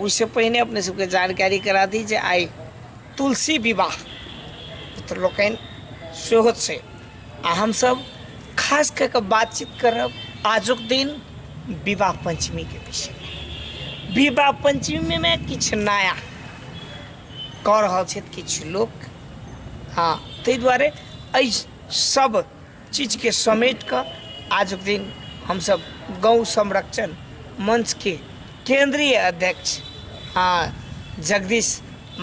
ओहिसँ पहिने अपने सबके जानकारी करा दी जे आइ तुलसी विवाह पुत्र लोकनि सेहो छै आ हमसब खास कऽ कऽ बातचीत करब आजुक दिन विवाह पंचमीके विषयमे विवाह पंचमीमे किछु नया कऽ रहल छथि किछु लोक हँ ताहि दुआरे एहि सब चीजके समेट कऽ आजुक दिन हमसभ गौ संरक्षण मंचके केंद्रीय अध्यक्ष आ जगदीश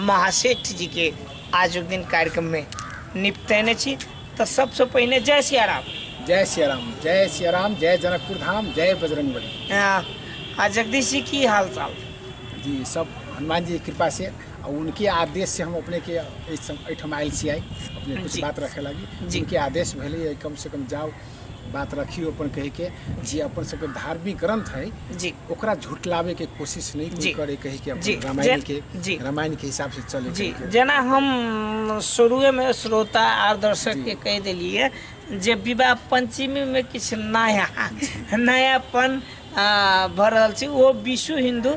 महासेठ जीके आजुक दिन कार्यक्रममे निपटेने छी तऽ सबसँ पहिने जय सिया राम जय सिया राम जय सिया राम जय जनकपुर धाम जय बजरंग बली आ, आ जगदीश जी की हाल चाल जी सब हनुमान जी की कृपा से और उनके आदेश से हम अपने के इस- एहिठाम आयल छी आई अपने कुछ जी। बात रखे लागी जी। उनके आदेश भेलै है, कम से कम जाओ बात रखियो अपन कहे के जे अपन सबके धार्मिक ग्रंथ है जी ओकरा झुटलावे के कोशिश नहीं कोई जी। करे कहे के जी। अपन रामायण जे- के जी। रामायण के हिसाब से चले जी कहे के। जेना हम शुरुए में श्रोता आर दर्शक जी। के कह देलिए जे विवाह पंचमी में किछु नया नयापन आ, भऽ रहल छै ओ विश्व हिन्दू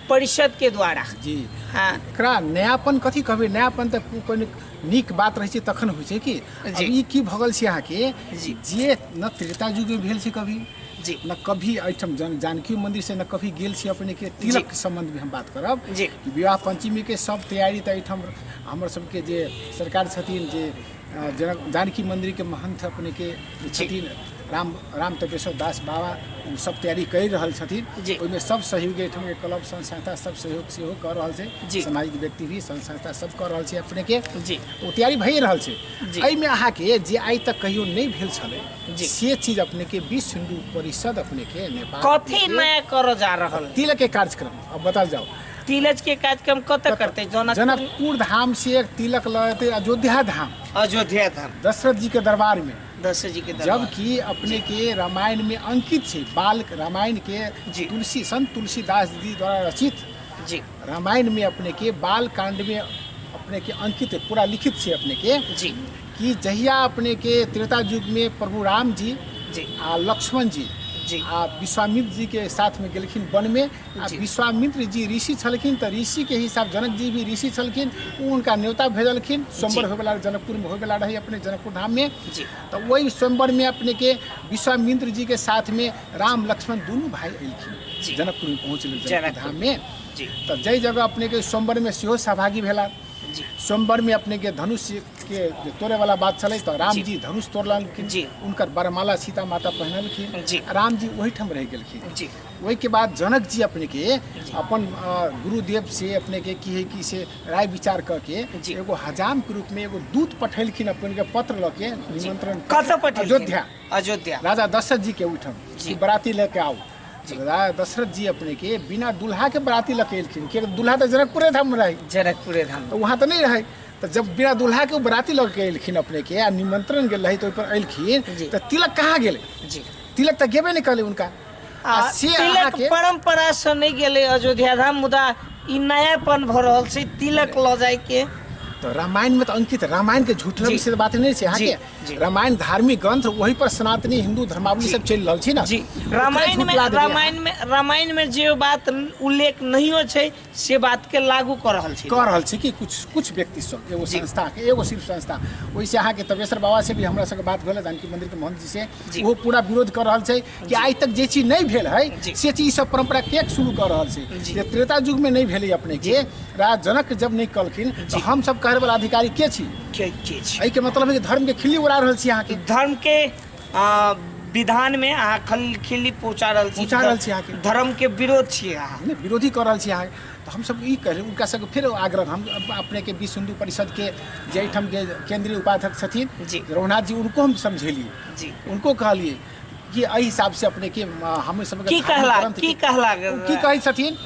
परिषद के द्वारा जी हाँ एकरा नयापन कथी कहबै नयापन तऽ को- कोनो नीक बात रहै छै तखन होइ छै कि अब जी। ई की भगल छै अहाँके जी। जे न त्रेता युगमे भेल छै कभी जी न कभी एहिठाम जन जानकी मंदिर से न कभी गेल छी अपने के तिलक के संबंध में हम बात करब जी। कि विवाह पंचमी के सब तैयारी तऽ एहिठाम हमर सबके जे सरकार छथिन जे जनक जानकी मन्दिरके महन्थ अपनेके छथिन राम राम तपेश्वर दास बाबा ओ सब तैयारी करि रहल छथिन जी। ओहिमे सब सहयोग एहिठामके क्लब संघ संस्था सब सहयोग सेहो कऽ रहल जी। छै सामाजिक व्यक्ति भी संघ संस्था सब कऽ रहल छै अपनेके जी ओ तैयारी भए रहल छै जी। एहिमे अहाँके जे आइ तक कहियो नहि भेल छलै जी। से चीज अपनेके विश्व हिन्दू परिषद अपनेके नेपाल कथी अपनेके नया करऽ जा रहल है? तिलके कार्यक्रम अब बताल जाओ तीलज के कार्यक्रम कतऽ करतै जनकपुर जनकपुर धाम से एक तिलक लऽ एतै अयोध्या धाम अयोध्या धाम दशरथ जी के दरबार में दशरथ जी के दरबार जबकि अपने के रामायण में अंकित छै बाल रामायण के जी। तुलसी संत तुलसीदास जी द्वारा रचित जी रामायण में अपने के बाल कांड में अपने के अंकित है, पूरा लिखित छै अपने के जी कि जहिया अपने के त्रेता युग में प्रभु राम जी जी आ लक्ष्मण जी जी। आ विश्वामित्र जी के साथ में गेलखिन वन में आ विश्वामित्र जी ऋषि छलखिन तऽ ऋषि के हिसाब जनक जी भी ऋषि छलखिन ओ उनका न्योता भेजलखिन स्वयंवर जी। होयवला जनकपुर में होयवला रही अपने जनकपुर धाम में जी। तऽ वही स्वयंवर में अपने के विश्वामित्र जी के साथ में राम लक्ष्मण दुनू भाई जी। अयलखिन जनकपुर में पहुँचल जनकपुर जनकपुर। धाम में जी तऽ जाहि जगह अपने के स्वयंवर में सेहो सहभागी भेला जी स्वयंवर में अपने के धनुष के जे तोड़े वाला बात छलै तऽ राम जी। जी धनुष तोड़लखिन जी। उनकर बरमाला सीता माता पहिनलखिन जी। राम जी ओहिठाम रहि गेलखिन जी ओहि के बाद जनक जी अपने के अपन गुरुदेव से अपने के की है कि से राय विचार क के एगो हजाम के रूप में एगो दूत पठेलखिन अपन के पत्र ल के निमंत्रण अयोध्या अयोध्या राजा दशरथ जी के उठन जी बराती लेके आओ राजा दशरथ जी अपने के बिना दुल्हा के बराती लेके एलखिन के दुल्हा तो जनकपुरे धाम में रहे जनकपुरे धाम तो वहाँ तो नहीं रहे तो जब बिना दुल्हा के बराती लग के एलखिन अपने के आ निमंत्रण गए रही तो अलखिन तो तिलक कहाँ गए तिलक तो गेबे नहीं कल उनका आ से तिलक अहाँके परम्परा से नहि गेलै अयोध्या धाम मुदा ई नयापन भऽ रहल छै तिलक लऽ जायके तऽ रामायणमे तऽ अंकित रामायणके झूठला जी। विषय बात नहि छै जी, जी। अहाँके रामायण धार्मिक ग्रंथ ओहि पर सनातनी हिन्दू धर्मावली सब चलि रहल छै ने जी ओकरे रामायण में झुठला देबै अहाँ। रामायण में रामायण में जे बात उल्लेख नहियो छै से बात के लागू कर रहल छी कह रहल छी कि कुछ कुछ व्यक्ति सब एगो जी। संस्था के एगो सिर्फ संस्था ओहिसे अहाँके तपेश्वर बाबा से भी हमरा सबके बात भेल जानकी मंदिर के महंत जी से जी। ओहो पूरा विरोध कर रहल छै कि आइ तक जे चीज नहीं भेल है जी। से चीज सब परंपरा के शुरू कर रहल छै जी। जे त्रेता युग में नहीं भेलै अपने के राजा जनक जब नहीं कहलखिन तो हम सब कहै वाला अधिकारी के छी के के छी एहि के मतलब है कि धर्म के खिल्ली उड़ा रहल छी अहाँ के धर्म के आ, विधान में अहाँ खलखिली पहुंचा रहल छी पहुँचा रहल छी अहाँके। धर्म के विरोध छियै अहाँ नहि विरोधी कऽ रहल छी अहाँ तऽ हमसभ ई कहलहुँ हुनका सभके फेर आग्रह हम अप- अपनेके विश्व हिन्दू परिषदके जे एहिठाम के केंद्रीय उपाध्यक्ष छथिन जी। रघुनाथ जी उनको हम समझेलिए जी। उनको कहलिए कि एहि हिसाबसँ अपनेके म- हम सभके की धार्मिक कहला- ग्रंथ की के- कहला ओ की कहै छथिन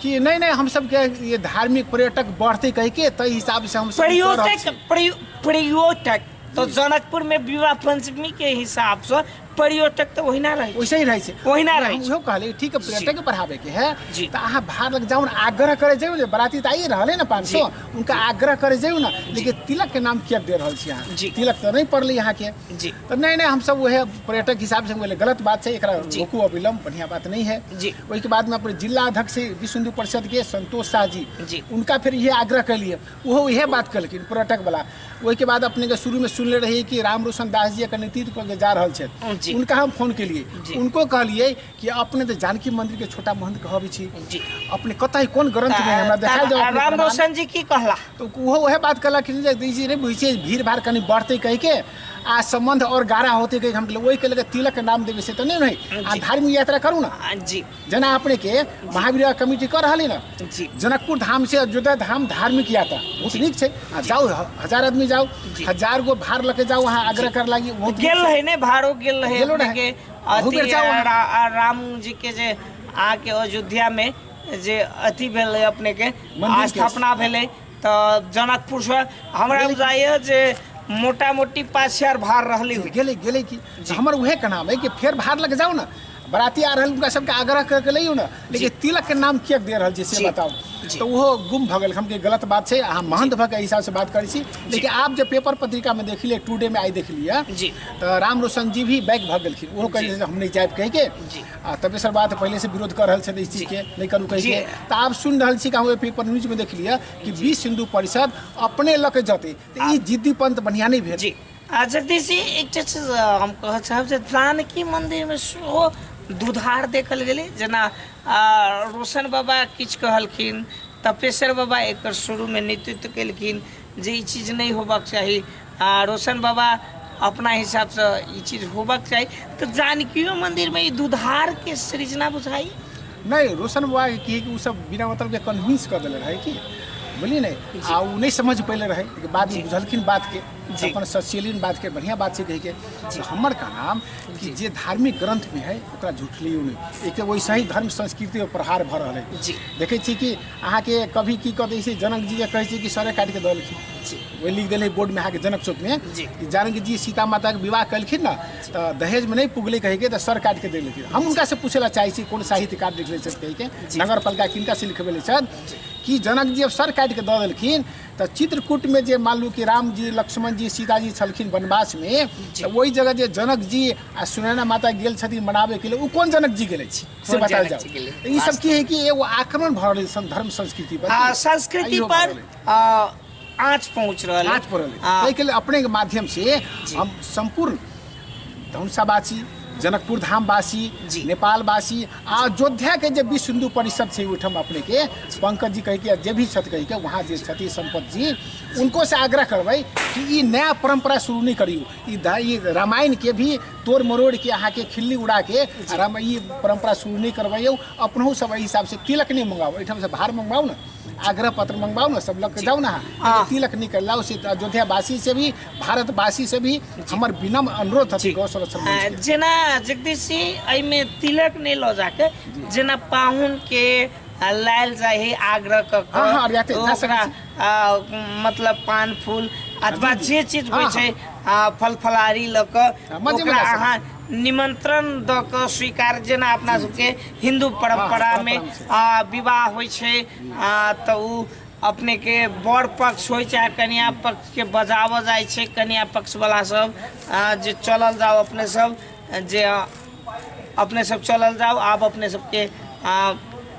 कि नहि नहि हम सभके ये धार्मिक पर्यटक बढ़तै कहिके ताहि हिसाबसँ हम सभ ई कऽ रहल पर्यटक छी। प्रयो- पर्यटक तो जनकपुर में विवाह पंचमी के हिसाब से पर्यटक तो वही ना रहे वैसे ही रहे छै वही ना रहे उहो कहले ठीक है पर्यटक के बढ़ावे के है जी। तो अहाँ भार लग जाऊ आग्रह करे जाऊ जे बराती तो आइए रहले ना पाँच सौ उनका आग्रह करे जाऊ ना लेकिन तिलक के नाम किया दे रहल छी अहाँ जी। तिलक तो नहीं पड़ले यहाँ के जी तो नहीं नहीं हम सब वह पर्यटक हिसाब से बोले गलत बात है एकरा जी। रोकू अविलंब बढ़िया बात नहीं है जी। ओहिके बाद में अपने जिला अध्यक्ष विश्व हिंदू परिषद के संतोष शाह जी जी। उनका फिर ये आग्रह कैलिए ओहो इहे बात कहलखिन पर्यटक वाला ओहिके बाद अपने के शुरू में सुनले रही कि राम रोशन दास जी एकर नेतृत्व करके जा रहल जी। छथि उनका हम फोन केलिए जी। उनको कहलिए कि अपने तो जानकी मंदिर के छोटा महंत कहबे छी जी अपने कतई कोन ग्रंथ में हमरा देखाई जाओ अपने राम प्रमाण। रोशन जी की कहला तो ओहो वह बात कहला कि जे दी जी रे बुझे भीड़ भाड़ कनी बढ़ते कह के आ संबंध और गाढ़ा होते कह के हम कहलिए, ओहि के लगे तिलक के नाम देवे से तो नहीं नहीं आ जी। धार्मिक यात्रा करू ना जी जेना अपने के महावीर कमेटी कर रही ना जनकपुर धाम से अयोध्या धाम धार्मिक यात्रा बहुत नीक छै आ जाओ हजार आदमी जाओ हजार गो भार लके जाओ वहाँ आग्रह कर लागी बहुत गेल रहे ने भारो गेल रहे गेलो रहे। के अहू बेर जाउ अहाँ। रा- आ- राम जी के जे आके अयोध्या में जे अथी भेल रहे अपने के मंदिर के। स्थापना भेलै तऽ जनकपुर से हमरा बुझाइए जे मोटा मोटी पाँच हजार भार रहली हुई गेलै गेलै कि हमर उहे के नाम है कि फेर भार लग जाओ ना बराती आ रहल उनका सबके आग्रह करके लइयो ना लेकिन तिलक के नाम किया दे रहल छी से जी। बताओ जी। तो वो गुम भ गेल हम के गलत बात छै अहाँ महंत भ के एहि हिसाब से बात करै छी लेकिन आप जे पेपर पत्रिका में देखलिए टुडे में आई देखलिए जी। तो राम रोशन जी भी बैक भ गेलखिन ओहो कहलिए हम नहीं जायब कह के जी। आ तब सर बात पहले से विरोध कर रहल छथि इस चीज के लेकर उ कहिए त आब सुन रहल छी कहूँ एपी पर न्यूज में देख लिया कि बीस हिंदू परिषद अपने लके जते त ई जिद्दी पंत बढ़िया नहीं भेल जी आ जगदीश जी एकटा चीज अ, हम कहऽ चाहब जे जानकी मन्दिरमे सेहो दुधार देखल गेलै जेना आ, रोशन बाबा किछु कहलखिन तपेश्वर बाबा एकर शुरूमे नेतृत्व केलखिन जे ई चीज नहि होबक चाही आ रोशन बाबा अपना हिसाबसँ ई चीज होबक चाही तऽ जानकियो मन्दिरमे ई दुधारके सृजना बुझाइ नहीं रोशन बाबा के की है कि उ सब बिना मतलब के कन्विंस कर देले रहे की बोली नहीं आ उ नहीं समझ पहले रहे लेकिन बाद में बुझलखिन बात के जी। अपन सचेलिन बात के बढ़िया बात से कह के तो हमर का नाम कि जे धार्मिक ग्रंथ में है ओकरा झुठलियो नहीं एक वैसे ही धर्म संस्कृति पर प्रहार भर रहे जी। देखे छी कि अहाँके कभी की कहते से जनक जी के कहै छै कि सरे काटि के दलखिन जी वही लिख दिले बोर्ड में अहाँके जनक चौक में जी। कि जानकी जी सीता माता के विवाह कलखिन ना तो दहेज में नहीं पुगले कहे के तो सर काट के दे लेखिन हम उनका से पूछे ला चाहे छी कौन साहित्यकार लिखले छथि कहे के जी। नगर पालिका किनका से लिखबे छथि कि जनक जी अब सर काट के दऽ देलखिन तऽ चित्रकूट में जे मान लू कि राम जी लक्ष्मण जी सीता जी छलखिन वनवास में जी। तऽ ओहि जगह जे जनक जी आ सुनैना माता गेल छथिन मनाबे के लिए ओ कोन जनक जी गेले छी से बहुत बतायल ज्यादा जाओ चिकिले। तऽ ई सब की है कि एगो आक्रमण भऽ रहल सन धर्म संस्कृति पर आ, संस्कृति आइयो पर भऽ रहलै। आ, आँच पहुँच रहल है। आज पड़ल है। आ, ताहिके लेल अपने के माध्यम से हम सम्पूर्ण धनुषावासी जनकपुर धामवासी जी। नेपालवासी आ अयोध्या के जे विश्व हिंदू परिषद छै ओहिठाम अपने के पंकज जी कहि के जे भी छथि कहि के वहाँ जे छथि संपत जी उनको से आग्रह करबै कि ई नया परंपरा शुरू नहीं करियो ई दा- ई रामायण के भी तोड़ मरोड़ के अहाँ के खिल्ली उड़ा के और हम ई परंपरा शुरू नहीं करवाइयो अपनहु सब एहि हिसाब से तिलक नहीं मंगाओ एहिठाम से भार मंगवाओ ना आग्रह पत्र मंगवाओ ना सब लग के जाओ ना अहाँ। एगो तिलक नहीं कर लाओ से अयोध्या वासी से भी भारत वासी से भी हमर विनम्र अनुरोध है गौ संरक्षण मंच आ, के। जेना जगदीश जी एहिमे तिलक नहि लऽ जाके जेना पाहुन के आ, लायल जाइ है आग्रह कऽ हँ, हँ, अरियाते, कऽ जा ओकरा सकै आ मतलब पान फूल अथवा जे चीज होइ छै आ फल फलहारी लऽ कऽ हाँ, मजे ओकरा मजा से। अहाँ निमंत्रण दऽ कऽ स्वीकार जेना अपना सबके हिंदू परंपरा हाँ, में परंपरा आ, विवाह होइ छै आ, तऽ ओ अपने के बड़ पक्ष होइ चाहे कन्या पक्ष के बजावल जाइ छै कन्या पक्ष वाला सब आ, जे चलल जाओ अपने सब जे आ, अपने सब चलल जाओ आब अपने सबके आ,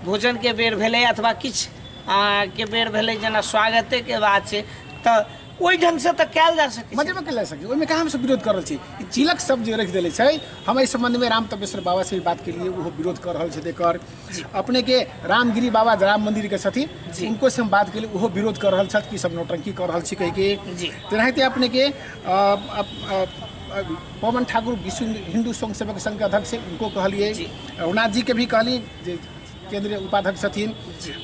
भोजन के बेर भेलै अथवा किछु आ, के बेर भेलै जेना स्वागते के बात छै तऽ ओहि ढंग से तऽ कयल जा सकै छै। मजे में कल सकी ओहिमे कहाँ हमसब विरोध कर रहल छी ई चिलक सब जे रख देले छै हम एहि संबंध में राम तपेश्वर बाबा से भी बात के लिए ओहो विरोध कर रहल छथि एकर अपने के रामगिरी बाबा राम मंदिर के छथि जी। उनको से हम बात के लिए ओहो विरोध कर रहल छथि कि सब नौटंकी कर रहल छी कहि के जी। तेनाहिते अपने के अ, अ, अ, अ, पवन ठाकुर विश्व हिंदू स्वयं सेवक संघ के अध्यक्ष छै, उनको कहलिए जी। रघुनाथ जी के भी कहली जे केंद्रीय उपाध्यक्ष छथिन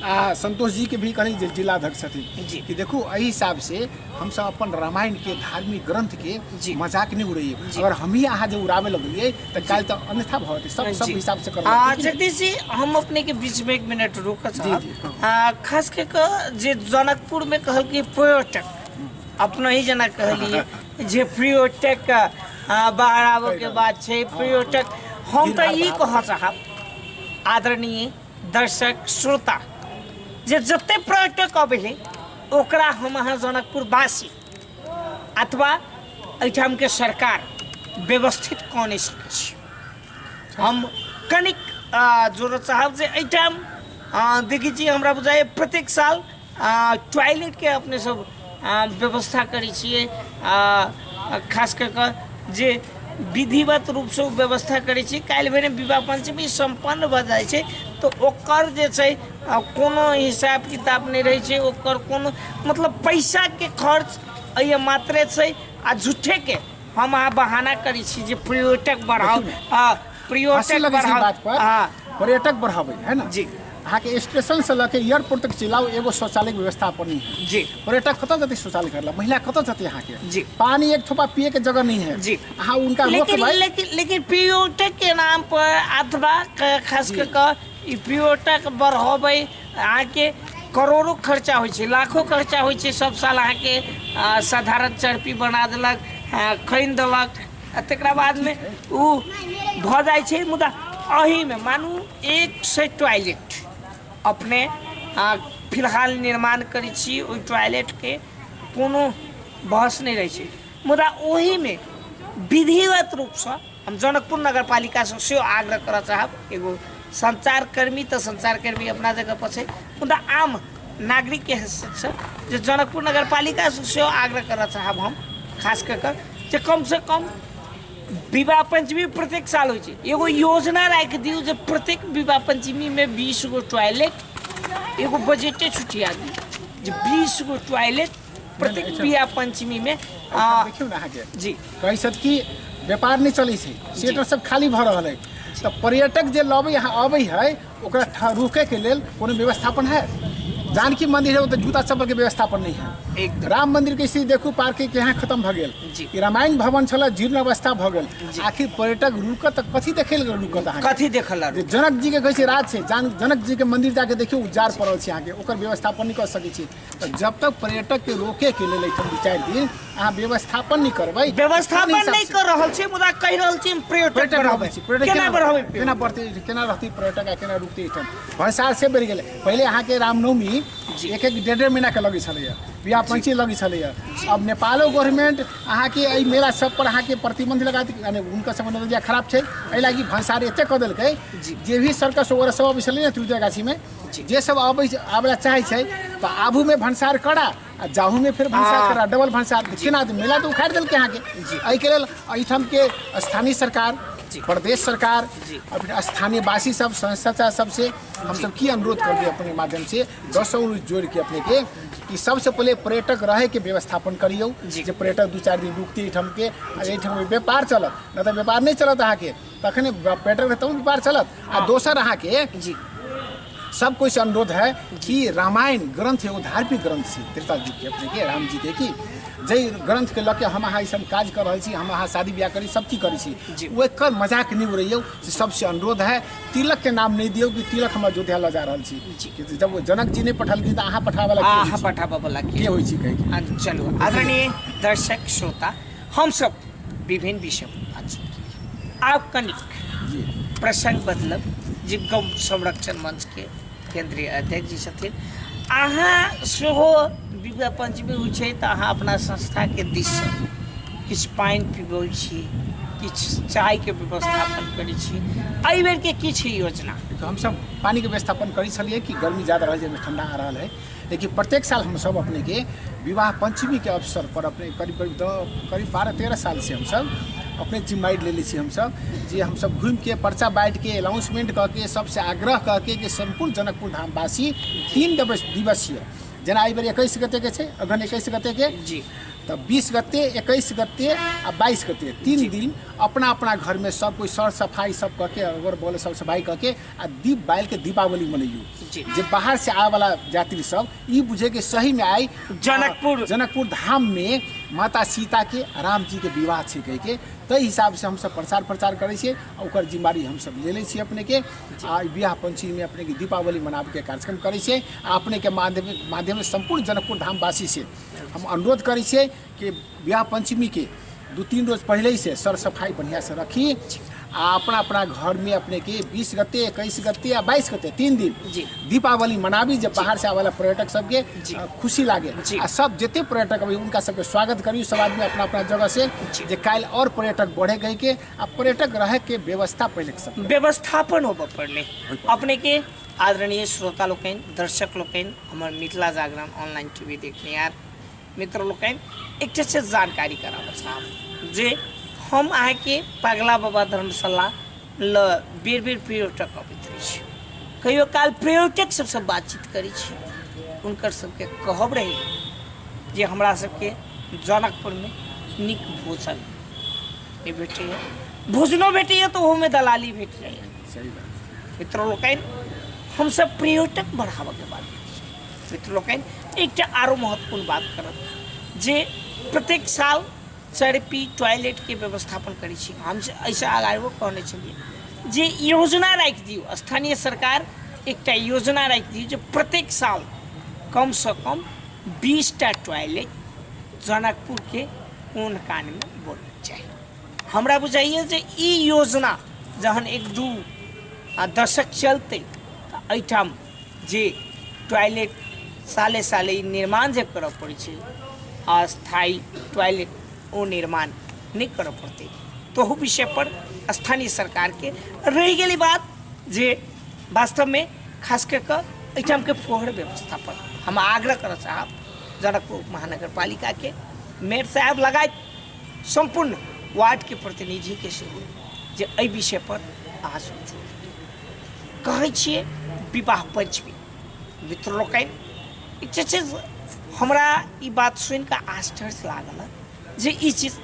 आ संतोष जी के भी कहीं जे जिलाध्यक्ष जी। छथिन कि देखू एहि हिसाब से हम सब अपन रामायण के धार्मिक ग्रंथ जी। के मजाक नहीं उड़ाइए अगर हम ही अहाँ जे उड़ावे लगलिए तो काल तो अन्यथा भवते सब सब जी। हिसाब से कर आ, जगदीश जी हम अपने के बीच में एक मिनट रुक जी, जी, हाँ। आ, खास के क जे जनकपुर में कहल कि पर्यटक अपना ही जना कहलिए जे पर्यटक आ, बाहर आबो के बात छै पर्यटक हम तो ई कह चाहब आदरणीय दर्शक श्रोता जे जते पर्यटक अबे ओकरा हम अहाँ जनकपुर वासी अथवा एहिठाम के सरकार व्यवस्थित कऽ नहि सकै छी हम कनिक आ, जोड़ऽ चाहब जे एहिठाम आ, देखै छी हमरा बुझाइए प्रत्येक साल टॉयलेटके अपने सब व्यवस्था करै छियै खास कऽ कऽ जे विधिवत रूपसँ ओ व्यवस्था करै छी काल्हि भेने विवाह पञ्चमी सम्पन्न भऽ जाइ छै तऽ ओकर जे छै कोनो हिसाब किताब नहि रहै छै ओकर कोनो मतलब पैसाके खर्च एहि मात्रे छै आ झूठेके हम अहाँ बहाना करै छी जे पर्यटक बढ़ाउ आ हँसी पर्यटक लगै छै ई बढ़ाव बात पर हँ पर्यटक बढ़ाबै है ने जी। अहाँके स्टेशन से लऽ के एयरपोर्ट तक चलाउ एगो शौचालय के व्यवस्था पर नहीं है जी पर्यटक कतऽ जेतै शौचालय करला महिला कतऽ जेतै अहाँके जी। पानी एक थोपा पिए के जगह नहीं है जी। अहाँ उनका लेकिन रोकबै लेकिन लेकिन पर्यटक के नाम पर अथवा क- खास कर कऽ ई पर्यटक बढ़बै अहाँके करोड़ो खर्चा होइ छै लाखो खर्चा होइ छै सब साल अहाँके आ, साधारण चर्पी बना देलक आ, खनि देलक आ तकरा बादमे ओ भऽ जाइ छै मुदा एहिमे मानू एक से टॉयलेट अपने आ, फिलहाल निर्माण करै छी ओहि टॉयलेटके कोनो बहस नहि रहै छै मुदा ओहिमे विधिवत रूपसँ हम जनकपुर नगर पालिकासँ सेहो आग्रह करऽ चाहब एगो सञ्चारकर्मी तऽ सञ्चारकर्मी अपना जगहपर छै मुदा आम नागरिक के हैसियत से जे जनकपुर नगर पालिका से सेहो आग्रह करऽ चाहब हम खास कऽ कऽ जे कम से कम विवाह पंचमी प्रत्येक साल होइ छै एगो योजना राखि दियौ जे प्रत्येक विवाह पंचमी मे बीस गो टॉयलेट एगो बजटे छुटिया दियौ जे बीस गो टॉयलेट प्रत्येक विवाह पंचमी मे आ, देखियौ ने अहाँके जी कहै छथि कि व्यापार नहि चलै छै थिएटर सब खाली भऽ रहल है तऽ पर्यटक जे लबै यहाँ अबै है ओकरा ठा- रोके के लेल कोनो व्यवस्थापन है जानकी मंदिर है ओतऽ जूता चप्पल के व्यवस्थापन नहीं है एकदम राम मंदिर के स्थिति देखू पार्किंग के यहाँ खत्म भऽ गेल जी। ई रामायण भवन छल जीर्ण अवस्था भऽ गेल आखिर पर्यटक रुकत तऽ कथी देखे लेल रुकत अहाँ कथी देखल जे जनक जी के कहै छै राज छै जान जनक जी के मंदिर जाके देखियौ उजार पड़ल छै अहाँके ओकर व्यवस्थापन नहि कऽ सकै छी तऽ जब तक पर्यटक के रोके के लेल एहिठाम दू चारि दिन अहाँ व्यवस्थापन नहि करबै व्यवस्थापन कोन हिसाब नहि से? कर रहल छी मुदा कहि रहल छी हम पर्यटक पर्यटक बढ़ाबै बढ़ाबै छी पर्यटक केना बढ़ाबै केना बढ़तै केना रहतै पर्यटक आ केना रुकतै एहिठाम भनसार से बढ़ि गेलै पहिले अहाँके रामनवमी एक एक डेढ़ डेढ़ महीनाके लगै छलैए बियाह पंची लगै छलैए अब नेपालो गवर्नमेंट अहाँके एहि मेला सब पर अहाँके प्रतिबंध लगा दी यानी हुनकर सबके नजरिया खराब छै एहि लागि भनसार एतेक कऽ देलकै जे भी सर्कस वगैरह सब अबै छलै ने त्रिदुर्गाछीमे जे सब आबै आबैला चाहै छै तऽ आबू में भंसार करा आ जाहू में फिर भंसार हाँ। करा डबल भंसार केना तऽ मेला तऽ उखाड़ि देलकै अहाँके एहिके लेल एहिठाम के स्थानीय सरकार प्रदेश सरकार और फिर स्थानीय वासी सब संस्था सब से हम सब की अनुरोध कर दिए अपने माध्यम से दस सौ जोड़ के अपने के कि सबसे पहले पर्यटक रहे के व्यवस्थापन करियो जे पर्यटक दू चार दिन रुकते एठाम के एठाम व्यापार चलत न तो व्यापार नहीं चलत अहाँ के तखने पर्यटक रहतै तहन व्यापार चलत आ हँ। दोसर अहाँके जी सब कोई से अनुरोध है कि रामायण ग्रंथ एगो धार्मिक ग्रंथ छी त्रेता जी के अपने के राम जी के की जय ग्रंथ के लऽ के हम अहाँ ईसभ काज कर रहल छी हम अहाँ शादी ब्याह करी सब चीज करै छी जी। ओ एकर मजाक नहि उड़ैयौ से सबसे अनुरोध है तिलक के नाम नहि दियौ कि तिलक हम अयोध्या लऽ जा रहल छी जी। कि जब ओ जनक जी नहि पठलखिन तऽ अहाँ पठाबे ला अहाँ पठाबऽ बला के के होइ छी कहै के? चलू आदरणीय दर्शक श्रोता हमसब विभिन्न विषय पर बातचीत केलियै आब कनिक प्रसंग बदलब जे गौ संरक्षण मंच के केंद्रीय अध्यक्ष जी छथिन अहाँ सेहो विवाह पंचमी होइ छै तऽ अहाँ अपना संस्था के दिस सँ किछु पानि पिबै छी किछु चाय के व्यवस्थापन करै छी एहि बेर के किछु योजना तऽ हमसब पानिके व्यवस्थापन करै छलियै कि गर्मी ज्यादा रहल जाहिमे ठंडा आ रहल है लेकिन प्रत्येक साल हम सब अपने के विवाह पंचमी के अवसर पर अपने करीब करीब दो- करीब बारह तेरह साल से हम सब अपने जिम्मेदारी ले ली छी हम सब जे हम सब घूम के पर्चा बांट के अनाउंसमेंट कऽ के सबसे आग्रह कऽ के कि संपूर्ण जनकपुर धाम वासी तीन दिवस दिवसीय जेना एहि बेर एकैस गते के छै अगहन एकैस गते के जी तऽ बीस गते एकैस गते आ बाईस गते तीन दिन अपना अपना घरमे सब कोइ सर सफाइ सब कऽ के अगर बोले सब सफाइ कऽ के आ दीप बाल के दीपावली मनैयू जी। जे बाहर से आए वाला यात्री सब ई बुझे के सही में आई जनकपुर। आ, जनकपुर धाम में माता सीता के आ राम जी के विवाह छै कह के ताहि हिसाब से हमसब प्रचार प्रचार करै छियै आ ओकर जिम्मेवारी हमसब ले लै छियै अपने के आ ई विवाह पंचमी में अपने के दीपावली मनाबे के कार्यक्रम करै छियै आ अपने के माध्यम माध्यम से सम्पूर्ण जनकपुर धामवासी से हम अनुरोध करै छियै कि विवाह पञ्चमीके दू तीन रोज पहिलेसँ सर सफाइ बढ़िआँसँ रखी आ अपना अपना घरमे अपनेके बीस गते एकैस गते आ बाइस गते तीन दिन जी। दीपावली मनाबी जे बाहर से आवेला पर्यटक सबके जी। अ, खुशी लागे जी। आ सब जते पर्यटक अबै उनका सबके स्वागत करियो सब आदमी अपना अपना जगह से जी। जे काल्हि और पर्यटक बढ़े गई के आ पर्यटक रहे के व्यवस्था पहले के सब व्यवस्थापन होबऽ पड़लै अपने के आदरणीय श्रोता लोकनि दर्शक लोकनि हमर मिथिला जागरण ऑनलाइन टीवी देखनिहार मित्र लोकनि एकटा से जानकारी कराबऽ चाहब जे हम अहाँके पगला बाबा धर्मशाला ल बेर बेर पर्यटक अबैत रहै छी कहियो काल पर्यटक सबसँ बातचीत करै छी हुनकर सबके कहब रहै जे हमरा सबके जनकपुरमे नीक भोजन नहि भेटैए भोजनो भेटैए तऽ ओहोमे दलाली भेट जाइए सही बात मित्र लोकनि हमसब पर्यटक बढ़ाबऽके बात मित्र लोकनि एकटा आरो महत्वपूर्ण बात करब जे प्रत्येक साल चरपी टॉयलेटके व्यवस्थापन करै छी हम एहिसँ आगाओ कहने छलियै जे योजना राखि दियौ स्थानीय सरकार एकटा योजना राखि दियौ जे प्रत्येक साल कमसँ कम बीसटा टॉयलेट जनकपुरके कोन कानमे बनना चाही हमरा बुझाइए जे ई योजना जहन एक दू आ दशक चलतै तऽ एहिठाम जे टॉयलेट साले साले ई निर्माण जे करऽ पड़ै छै अस्थायी टॉयलेट ओ निर्माण नहि करऽ पड़तै तहू विषय पर स्थानीय सरकार के रहि गेल ई बात जे वास्तव में खास कऽ कऽ एहिठाम के फोहर व्यवस्था पर हम आग्रह करऽ चाहब जनकपुर महानगर पालिका के मेयर साहब लगायत सम्पूर्ण वार्ड के प्रतिनिधि के सेहो जे एहि विषय पर अहाँ सोचू कहै छियै विवाह पंचमी मित्र लोकनि ई जे छै से हमरा ई बात सुनि कऽ आश्चर्य लागल हँ जे ई चीज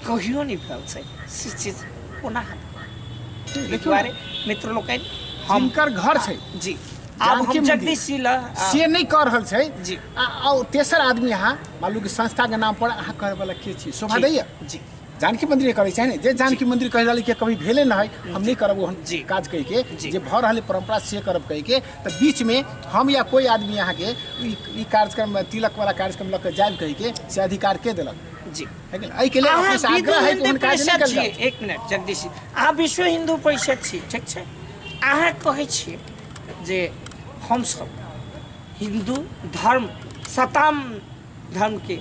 कहियो नहि भेल छै से चीज कोना हेतै एहि दुआरे मित्र लोकनि हम जिनकर घर छै जी आब जानकी हम मन्दिर। जगदीश जी लऽ आ, से नहि कह रहल छै जी। आ आ तेसर आदमी अहाँ मालूम कि संस्था के नाम पर अहाँ कहै वाला के छी शोभा जी, दैया जी जानकी मंदिर करे छै ने जे जानकी मंदिर कह रहल के कभी भेले न है हम नहीं करब हम जी काज कह के जी। जे भर रहल परंपरा से करब कह के तो बीच में हम या कोई आदमी यहाँ के ई ई कार्यक्रम में तिलक वाला कार्यक्रम लग के जाए कह के से अधिकार के दिलक जी है कि नहीं? एहि के लिए अहाँ अपने से विधु आग्रह है कि हिंदी उन काज परिषद नहीं छियै कर एक मिनट जगदीश जी। अहाँ विश्व हिन्दू परिषद छी ठीक छै अहाँ कहै छियै जे हमसभ हिन्दू धर्म सताम धर्मके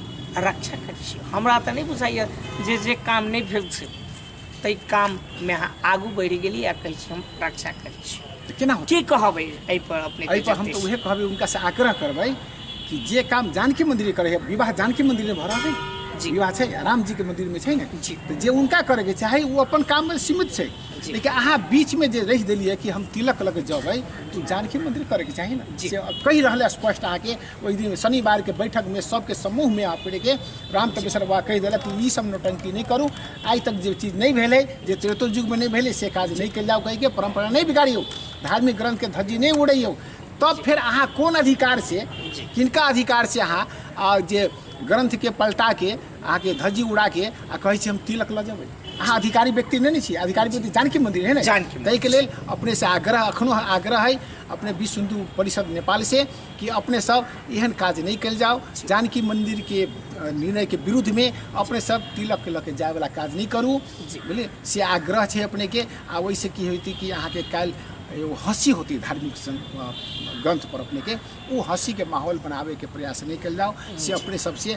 रक्षा करै छी हमरा तऽ नहि बुझाइए जे जे काम नहि भेल छै ताहि काममे अहाँ आगू बढ़ि गेली आ कहै छी हम रक्षा करै छी तऽ केना होतै की कहबै एहिपर अपने एहिपर हम तऽ उहे कहबै हुनका से आग्रह करबै कि जे काम जानकी मंदिर करे है विवाह जानकी मंदिर में भऽ रहल है जी। विवाह छै राम जी के मंदिर में छै ने जी। तऽ जे हुनका करे के चाही ओ अपन काम में सीमित छै जी। लेकिन अहाँ बीच में जे रहि देलियै कि हम तिलक लग जेबै तऽ जानकी मंदिर करे के चाही ने जी। से कहि रहल है स्पष्ट अहाँके ओहि दिन शनिवारके बैठकमे सबके समूहमे आपिके राम तपेश्वर बाबा कहि देलक कि ई सब नौटंकी नहि करू आइ तक जे चीज नहि भेलै जे त्रेतो युगमे नहि भेलै से काज नहि कयल जाउ कहिके परम्परा नहि बिगाड़ियौ धार्मिक ग्रंथके धज्जी नहि उड़ैयौ तब फेर अहाँ कोन अधिकार से किनका अधिकार से अहाँ आ जे ग्रंथके पलटाके अहाँके धज्जी उड़ाके आ कहै छी हम तिलक लऽ जेबै अहाँ अधिकारी व्यक्ति नहि ने छी अधिकारी व्यक्ति जानकी मन्दिर है ने जानकी मन्दिर। ताहिके लेल अपनेसँ आग्रह एखनो आग्रह है अपने विश्व हिन्दू परिषद नेपालसँ कि अपने सब एहन काज नहीं कल जाओ जानकी मंदिर के निर्णय के विरुद्ध में अपने सब तिलक के लके जाए वाला काज नहीं करू बोले से आग्रह है अपने के आ वैसे की होती कि अहाँ के कल एगो हँसी होती धार्मिक ग्रंथ पर अपने के वो हँसी के माहौल बनावे के प्रयास नहीं कल जाओ से अपने सबसे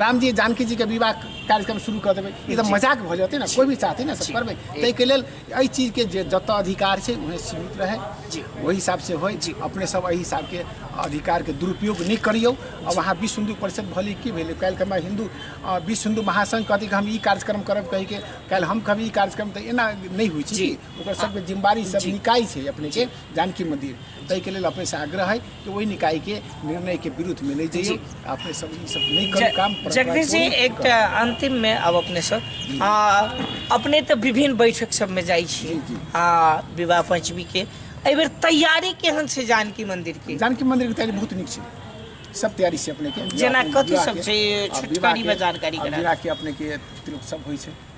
रामजी जानकी जी के विवाह कार्यक्रम शुरू कर देवे ई तऽ मजाक भऽ जेतै ने कोई भी चाहतै ने सब करबै ताहि के लेल एहि चीज के जे जतऽ अधिकार छै उहे सीमित रहै जी। ओहि हिसाब से होइ जी। अपने सब एहि हिसाब के अधिकार के दुरुपयोग नहि करियौ आ वहाँ विश्व हिन्दू परिषद भले की भेलै काल्हि हमरा हिन्दू अ, विश्व हिन्दू महासंघ कहतै कि हम ई कार्यक्रम करब कहि के काल्हि हम कहब ई कार्यक्रम तऽ एना नहि होइ छै जी। ओकर सबके जिम्मेवारी सब निकाय छै अपने के जानकी मंदिर ताहि के लेल अपने से आग्रह है कि ओहि निकाय के निर्णय के विरुद्ध में नहीं जाइए अपने सब ई सब नहीं कर काम ज- जगदीश जी एक त अंतिम में अब अपने सब आ, अपने तऽ विभिन्न बैठक सब में जाइ छी जी, जी। आ विवाह पंचमी के एहि बेर तैयारी केहन छै जानकी मंदिर के जानकी मंदिर के तैयारी बहुत नीक छै सब तैयारी छै अपने के जेना विवाह के- कथी विवाह सब के- छै, आ विवाह छुटकारीमे के- जानकारी आ करा विवाह के अपने के तिलक सब होइ छै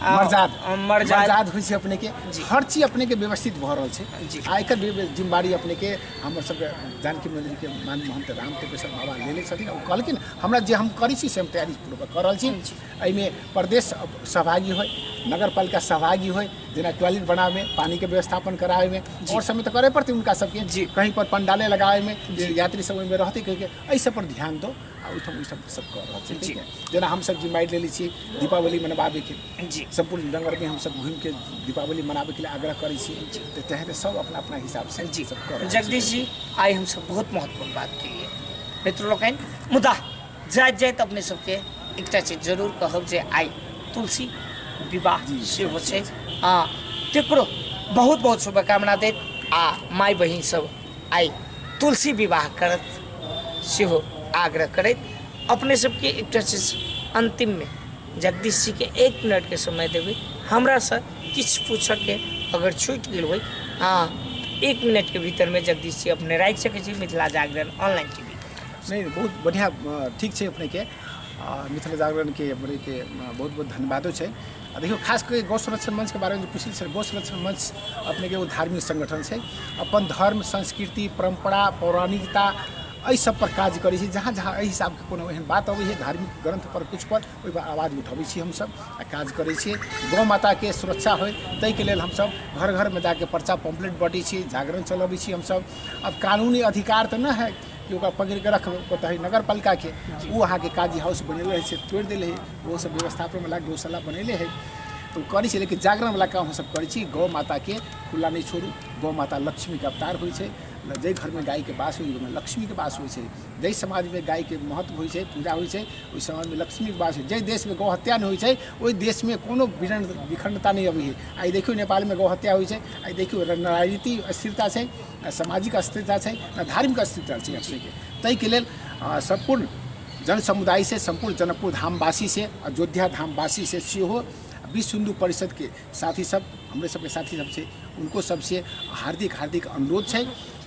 आ मर्जाद आ मर्जाद। मर्जाद होइ छै अपने के हर चीज अपने के व्यवस्थित भऽ रहल छै जी। आ एकर भी जिम्मेवारी अपने के हमर सबके जानकी मंदिर के मान महंत राम टेपेश्वर बाबा लेने छथिन ओ कहलखिन हमरा जे हम करै छी से हम तैयारी पूर्वक कऽ रहल छी एहिमे प्रदेश सहभागी होय नगर पालिका सहभागी होय जेना टॉयलेट बनाबे में पानी के व्यवस्थापन कराबे में और समय तो करे पड़ते उनका सबके जी। कहीं पर पंडाले लगाबे में जे यात्री सब ओहिमे रहते कहिके एहि सब पर ध्यान दो आ ओहिठाम ओहिठाम सब कऽ रहल छै ठीक है जेना हमसब जिम्मेदारी लेले छी दीपावली मनाबे के जी सम्पूर्ण रंगवर्मी हमसब घूम के दीपावली मनाबे के लिए आग्रह करै छी तऽ तहन तऽ सब अपना अपना हिसाब से जी सब कऽ रहल छै। जगदीश जी आइ हमसब बहुत महत्वपूर्ण बात केलिए मित्र लोकनि मुदा जाइत जाइत अपने सबके एकटा चीज जरूर कहब जे आइ तुलसी विवाह जी, सेहो छै आ तेकरो बहुत बहुत शुभकामना देत आ माय बहिन सब आइ तुलसी विवाह करत सेहो आग्रह करैत अपने सबके एकटा चीज अन्तिममे जगदीश जीके एक मिनटके समय देबै हमरासँ किछु पूछऽके अगर छूटि गेल होइ अहाँ एक मिनटके भीतरमे जगदीश जी अपने राखि सकै छी मिथिला जागरण ऑनलाइन टी नहीं बहुत बढ़िया अ, ठीक छै अपनेके आ, मिथिला जागरणके अपनेके अ, बहुत बहुत धन्यवादो छै आ देखियौ खास कऽ गौ संरक्षण मंचके बारेमे जे पुछली छल गौ संरक्षण मंच अपनेके एगो धार्मिक संगठन छै अपन धर्म संस्कृति परम्परा पौराणिकता एहि सब पर काज करै छै जहाँ जहाँ एहि हिसाबके कोनो एहन बात अबै छै धार्मिक ग्रंथ पर कुछ पर ओहि पर आवाज उठबै छी हमसब आ काज करै छियै गौ माताके सुरक्षा होय ताहिके लेल हमसब घर घरमे जाके पर्चा पम्पलेट बँटै छियै जागरण चलबै छियै हमसब आब कानूनी अधिकार तऽ नहि है कि ओकरा पकड़िके रखबै ओतहि नगर पालिकाके ओ अहाँके काजी हाउस बनेले रहै छै तोड़ि देले है ओहो सब व्यवस्थापन वाला गौशाला बनेले है तो करै छै लेकिन जागरण वाला काम हमसब करै छी गौ माताके खुला नहि छोड़ू गौ माता लक्ष्मीके अवतार होइ छै जाहि घरमे गायके बास होइ ओहिमे लक्ष्मीके बास होइ छै जाहि समाजमे गायके महत्व होइ छै पूजा होइ छै ओहि समाजमे लक्ष्मीके बास होइ छै जाहि देशमे गौ हत्या नहि होइ छै ओहि देशमे कोनो विरन विखंडता नहि अबै है आइ देखियौ नेपालमे गौ हत्या होइ छै आइ देखियौ राजनीति अस्थिरता छै ने सामाजिक अस्थिरता छै ने धार्मिक अस्थिरता छै अपनेके ताहिके लेल अ, सम्पूर्ण जन समुदाय से सम्पूर्ण जनकपुर धामवासी से अयोध्या धामवासी से सेहो विश्व हिंदू परिषद के साथी सब हमरे सबके साथी सब छै उनको सबसे हार्दिक हार्दिक अनुरोध छै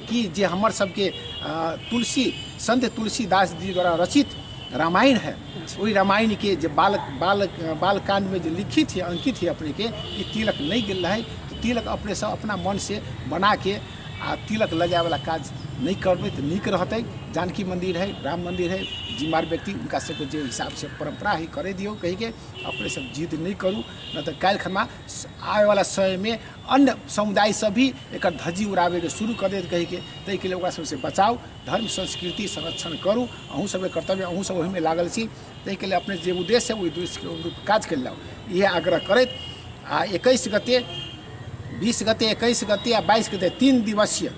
कि जे हमर सबके अ, तुलसी संत तुलसीदास जी द्वारा रचित रामायण है ओहि रामायणके जे बाल बाल बालकांडमे जे लिखित है अंकित है अपनेके ई तिलक नहि गेल रहै तऽ तिलक अपनेसँ अपना मनसँ बनाके आ तिलक लगाबैवला काज नहि करबै तऽ नीक रहतै जानकी मन्दिर है राम मन्दिर है जिम्मेवार व्यक्ति हुनका सबके जे हिसाबसँ परम्परा है करे दियौ कहिके अपने सब जिद नहि करू नहि तऽ काल्हि खना आबैवला समयमे अन्य समुदाय सब भी एकर धज्जी उड़ाबैके शुरू कऽ देत कहिके ताहिके लेल ओकरा सबसँ बचाउ धर्म संस्कृति संरक्षण करू अहूँ सबके कर्तव्य अहूँ सब ओहिमे लागल छी ताहिके लेल अपने जे उद्देश्य है ओहि उद्देश्यके अनुरूप काज कयल जाउ इएह आग्रह करैत आ एकैस गते बीस गते एकैस गते आ बाईस गते तीन दिवसीय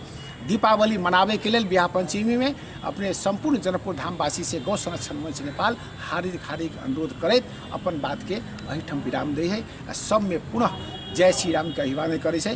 दीपावली मनाबैके लेल बियाह पञ्चमीमे अपने सम्पूर्ण जनकपुर धामवासी से गौ संरक्षण मंच नेपाल हार्दिक हार्दिक अनुरोध करैत अपन बातके एहिठाम विराम दै है आ सबमे पुनः जय श्री रामके अभिवादन करै छै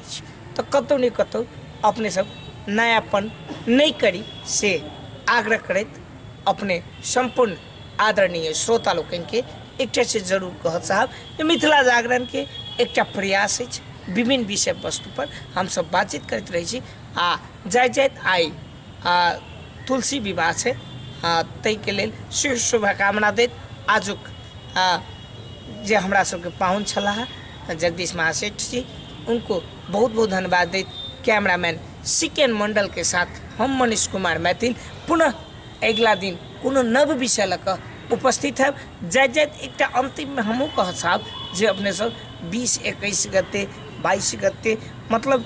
अछि तऽ कतहु ने कतहु अपने सब नयापन नहि करी से आग्रह करैत अपने सम्पूर्ण आदरणीय श्रोता लोकनिके एकटा से जरूर कहत साहब जे मिथिला जागरणके एकटा प्रयास अछि विभिन्न विषय वस्तुपर हमसब बातचीत करैत रहै छी आ जाइत जाइत आइ आ तुलसी विवाह छै आ ताहिके लेल शिव शुभकामना दैत आजुक आ जे हमरा सबके पाहुन छलाह जगदीश महासेठ जी उनको बहुत बहुत धन्यवाद दैत कैमरामैन सिकेन मंडल के साथ हम मनीष कुमार मैथिल पुनः अगिला दिन कोनो नव विषय लऽ कऽ उपस्थित हैब जाइत जाइत एकटा अन्तिममे हमहूँ कहऽ चाहब जे अपने सब बीस एकैस गते बाइस गते मतलब